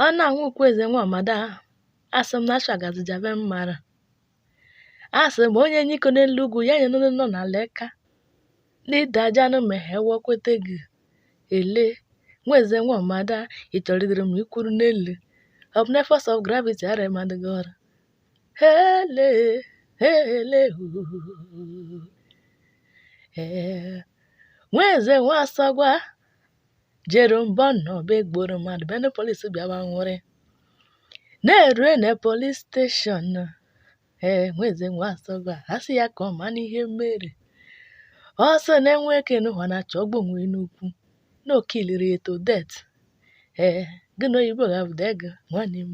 Ọ na nwa Okwueze nwa Ọmada asị m na ashagazi jabe mmara asị m onye nyiko n'elu ugwu ya nye ndị nọ n'ala eka na ị dajanụ ma he ewọkwete gị ele Nweze nwa Ọmada ị chọrọ idere m ikwuru n'elu ọ bụ na force of gravity arụmadịghị ọrụ hele hele huu ee Nweze nwa Asọgwa jere mbọ na ọba egburu mmadụ bịa na polis bịawa nwụrị na-erue na police station ee Nweze nwa Asọgwa a sị ya ka ọ ma n'ihe mere ọ sị na enwe eke n'ụwa na-achọ ọgbọ onwe n'ukwu na o kiliri ya to death ee gị na oyibo ga-abụda ego nwanne m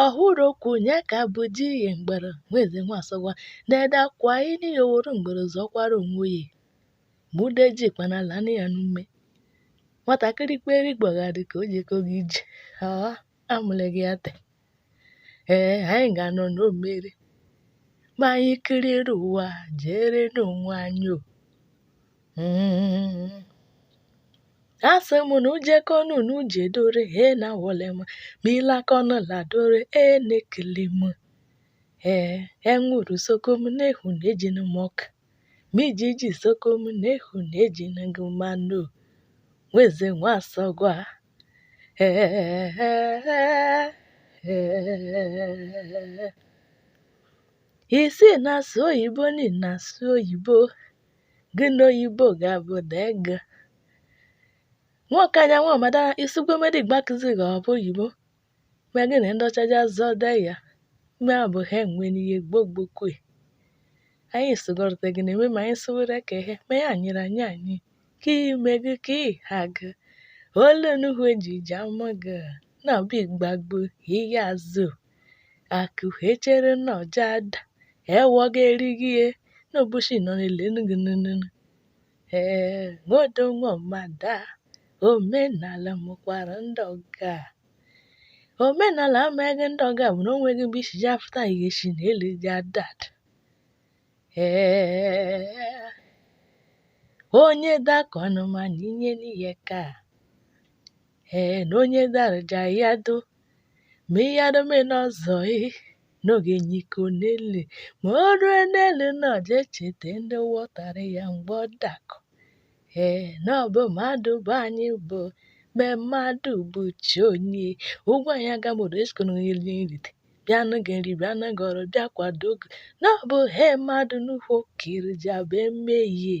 ọ hụrụ okwu nye ka bụ di ihe mgbere Nweze nwa Asọgwa na-ede akwa ini ya oworo mgbere zọkwara onwe ya mụde ji kpana lana ya n'ume nwatakịrị kperi gbagharị ka o jekoghị ije aa amụleghị ya te ee anyị ga-anọ n'omeri ma anyị kiriri ụwa jeere n'onwe anyị o Mm. Asị m na ujekọnụ na ujedore he na wole m ma ị lakọnụ ladore e na-ekele m ee enwuru soko m na-ehu na ejinu m ọka ma ijiji soko m na-ehu na ejinu gị mmanụ Nweze nwa Asọgwa ị sị ị na-asụ oyibo na ị na-asụ oyibo gị na oyibo ga-abụda ego nwoke anya nwa Ọmada i sikwe medi Igbo akụzi gị ọ bụ oyibo ma gị na ndị ọcha ja-azọde ya ma ọ bụ ha enwe n'ihe gbogbokwe anyị sụgọrọta gị na-eme ma anyị sụwere ka ihe ma ya nyere anyị anyị ka ime gị ka ị ha gị ole nuhu eji ji ama gị na ọbụ igbagbo ihe azụ akụ e chere na ọ ja-ada ewu ga-eri gị ihe n'ụbọchị nọ n'elu nụgị nụnụnụ ee Nwodo nwa Ọmada omenala mụkwara ndị ọga omenala amaghị ndị ọga bụ na o nweghị mgbe isi ja-afụta ihe si n'elu ja-ada ee onye dakọnụ ma nụ nyenụ ya eka ee na onye daru ja ya do ma ị yadome n'ọzọ ị n'oge nyiko n'elu ma o rue n'elu na ọ je-echete ndị wọtara ya mgbe ọ dakọ ee na ọ bụ mmadụ bụ anyị bụ me mmadụ bụ chi onye Ugwuanyị Agamodo esikọnụ nri nrite bịanụ gị nri bịanụ gị ọrụ bịa kwado gị na ọ bụ he mmadụ n'ukwu okiri ji abụ emehie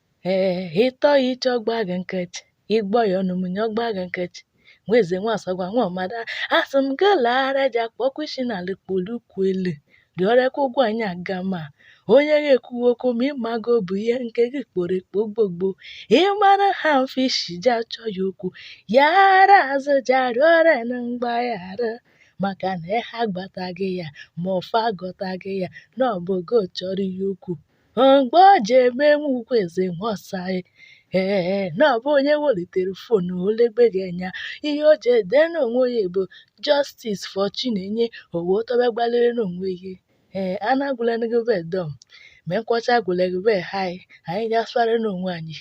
ee ị tọ ya iche ọ gba gị nkịchị ị gbọ ya ọnụ mụnyi ọ gba gị nkịchị nwa eze nwa asọgwa nwa ọmada asị m gị laara ji akpọkwu isi n'ala kpolu ụkwụ elu rịọrịakwa Ugwuanyị Agama onye ga-ekwuwe okwu ma ịmago bụ ihe nke gị kporo ekpo gbogbo ịmara ha mfe isi ji achọ ya okwu ya ara azụ ji arịọrịa na mgbaghara maka na eha agbataghị ya ma ọfọ agọtaghị ya na ọ bụ gị chọrọ ya okwu Mgbe o ji eme nwa ukwu eze nwa ọsa e, ee na ọ bụ onye welitere fon o legbe gị anya ihe o ji ede n'onwe ya bụ Justice for Chinenye o wee tọba gbalịrị n'onwe ya ee anagwụlere gị be dọm mee nkwọcha agwụlere be hai anyị ga-asụgharị n'onwe anyị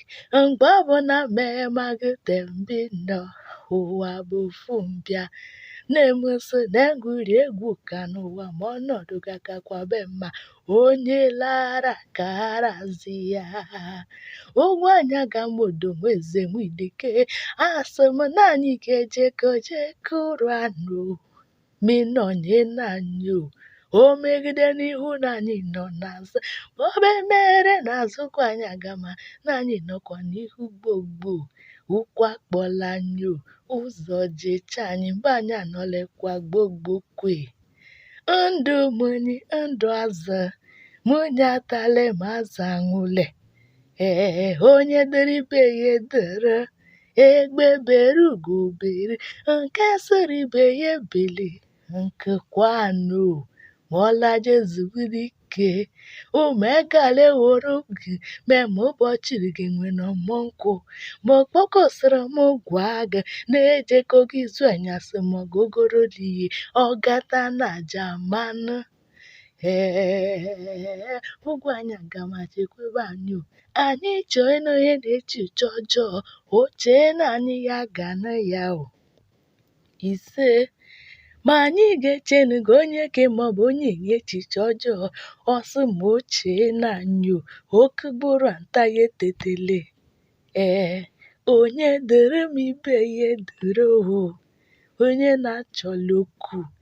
mgbe ọ bụ na mee ma gị tembi nọ ụwa bụ ofu mbịa na-emeso na-egwuri egwu ka n'ụwa ma ọnọdụ ga-akakwa be mma onye lara kara zi ya Ugwuanyị Agama Odo Eze Nwidike asị m na anyị ga-ejekọ jekụrụ anụ minọnye na anyị o o megide n'ihu na anyị nọ n'azụ ma ọ bụ e mere n'azụ Ugwuanyị Agama na anyị nọkwa n'ihu gbogbo ụkwụ akpọla anyị o ụzọ jecha anyị mgbe anyị anọlekwa gbogbo kwe ndụ mụnyi ndụ azụ mụnyi atale ma azụ anwụle ee onye dịrị ibe ya adịrị egbe bere ugo bere nke sịrị ibe ya ebele nku kwanụ ma ọ laje zuburu ike gị umekale woro gị mee ma ụbọchị gị nwere ọmụ nkwụ ma okpokosịrị m gwa gị na-ejekọ gị izu anyasị ma gogoro liyi ọgata na jamanụ ee Ugwuanyị Agama chekwebe anyị o anyị chọọ ịnụ ihe na-eche uche ọjọọ o chee na anyị ya ga na ya o ise ma anyị ga-echenu gị onyeke maọbụ onyenye echiche ọjọọ ọ sị ma o chee na anyị o oke gburu nta ya etetele ee onye dịrị m ibe ya adịrị o onye na-achọla okwu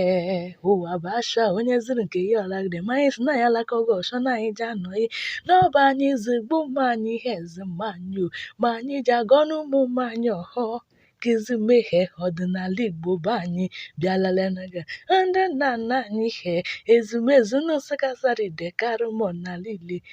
Ee, ụwa bụ asha onye zụrụ nke ya ọ lagide ma anyị si na ya alaka oge ọsọ na anyị ji anọghị n'ọba anyị zigbu mma anyị ihe eze mma anyị o ma anyị ji agọnụ ụmụ mma anyị ọhọ kizi mmehie ọdịnala igbo bụ anyị bịalala naga ndị nna nna anyị he ezumezu Nsụka Asadu Ideke Arụmọna lile